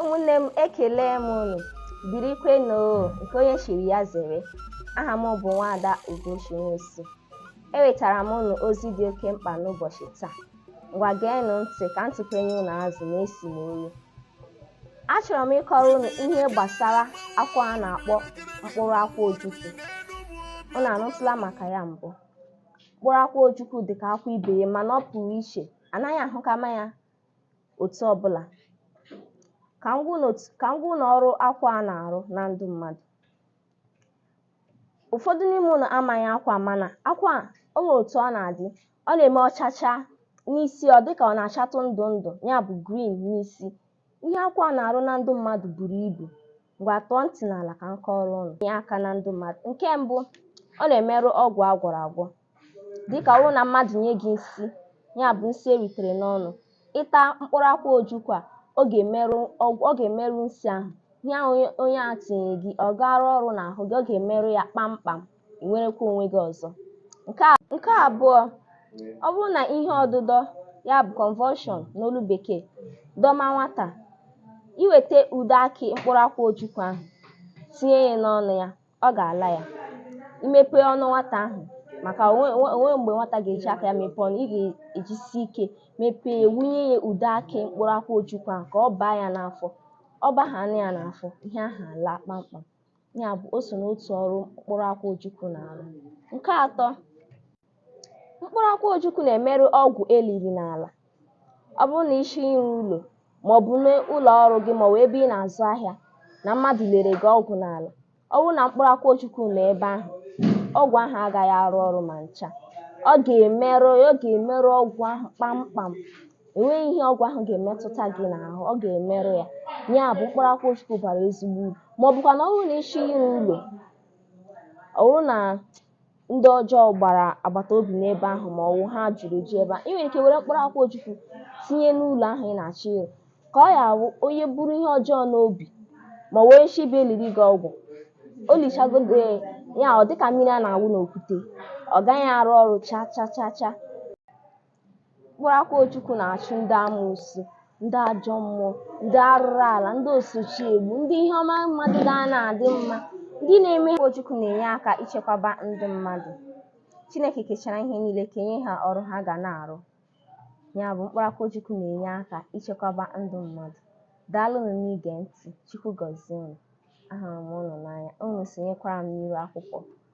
ụmụnne m ekelee m unu birikwenụ nke onye chiri ya zere aha m bụ nwaada ugochi nwosu ewetara m unu ozi dị oke mkpa n'ụbọchị taa Ngwa geenụ ntị ka m tụpenye unu azụ n'esi m olu. Achọrọ m ịkọrọ unu ihe gbasara akwụ a na-akpọ mkpụrụ akwụ ojukwu. Unu anụtụla maka ya mbụ? Mkpụrụ akwụ ojukwu dị ka akwụ ibe ya mana ọ pụrụ iche. A naghị ahụkama ya otu ọbụla. Ka m gwa unu ọrụ akwụ a na-arụ na ndụ mmadụ. ụfọdụ n'ime unu amaghị akwụ a mana akwụ a o nwere otu ọ na-adị ọ na-eme ọchacha n'isi ọ dịka ọ na-achatụ ndụ ndụ ya bụ green n'isi ihe akwụ a na-arụ na ndụ mmadụ buru ibu ngwa tọọ ntị n'ala ka m kọọrọ unu nye aka na ndụ mmadụ nke mbụ ọ na-emerụ ọgwụ agwọrọ agwọ Dịka ọ bụrụ na mmadụ nye gị nsi, ya bụ nsi e ritere n'ọnụ, ị taa mkpụrụ akwụ ojukwu a, ọ ga-emerụ nsi ahụ. Ihe ahụ onye a tinyere gị, ọ ga-arụ ọrụ n'ahụ gị, ọ ga-emerụ ya kpamkpam, i nwerekwa onwe gị ọzọ. Nke abụọ, ọ bụrụ na ihe ọdụdọ, ya bụ convulsion n'olu bekee, dọma nwata, i weta ude akị mkpụrụ akwụ ojukwu ahụ, tinye ya n'ọnụ ya, ọ ga-ala ya i mepe ọnụ nwata ahụ maka o nwe mgbe nwata ga-eji aka ya mepee ọnụ ị ga-ejisi ike mepee, wunye ya ude akị mkpụrụ akwụ ojukwu ahụ ka ọ baa ya n'afọ ọ baghana ya n'afọ ihe ahụ alaa kpamkpam ya bụ o so n'otu ọrụ mkpụrụ akwụ ojukwu na-arụ nke atọ Mkpụrụ akwụ ojukwu na-emerụ ọgwụ e liri n'ala. Ọ bụrụ na ị sị ịrụ ụlọ ma ọ bụ n'ụlọ ọrụ gị ma ọ bụ ebe ị na-azụ ahịa na mmadụ liere gị ọgwụ n'ala, ọ bụrụ na mkpụrụ akwụ ojukwu nọ ebe ahụ, ọgwụ ahụ agaghị arụ ọrụ ma ncha. Ọ ga-emerụ ọ ga-emerụ ọgwụ ahụ kpamkpam. E nweghị ihe ọgwụ ahụ ga-emetụta gị n'ahụ, ọ ga-emerụ ya. Ya bụ mkpụrụ akwụ ojukwu bara ezigbo uru. Ma ọ bụkwanụ ọ bụrụ na ị sị ịrụ ụlọ, ọ bụrụ na ndị ọjọọ gbara agbata obi n'ebe ahụ ma ọ wụ ha juru eju ebe ahụ ị nwere ike were mkpụrụ akwụ ojukwu tinye n'ụlọ ahụ ị na-achọ ịrụ ka ọ ya-awụ onye buru ihe ọjọọ n'obi ma ọ wee shi bịa eliri gị ọgwụ o lichagodi ya ọ dịka mmiri a na-awụ n'okwute ọ gaghị arụ ọrụ cha cha cha cha Mkpụrụ akwụ Ojukwu na-achụ ndị amoosu, ndị ajọ mmụọ, ndị arụrụ ala, ndị osochi egbu, ndị ihe ọma mmadụ ga na-adị mma. Ndị na-eme ha Ojukwu na-enye aka ichekwaba ndụ mmadụ. Chineke kechara ihe niile kenye ha ọrụ ha ga na-arụ. Ya bụ mkpụrụ akwụ Ojukwu na-enye aka ichekwaba ndụ mmadụ. Daalụnụ n'ige ntị. Chukwu gọzie unu. Ahụrụ m unu n'anya. Unu sonyekwara m n'iru akwụkwọ.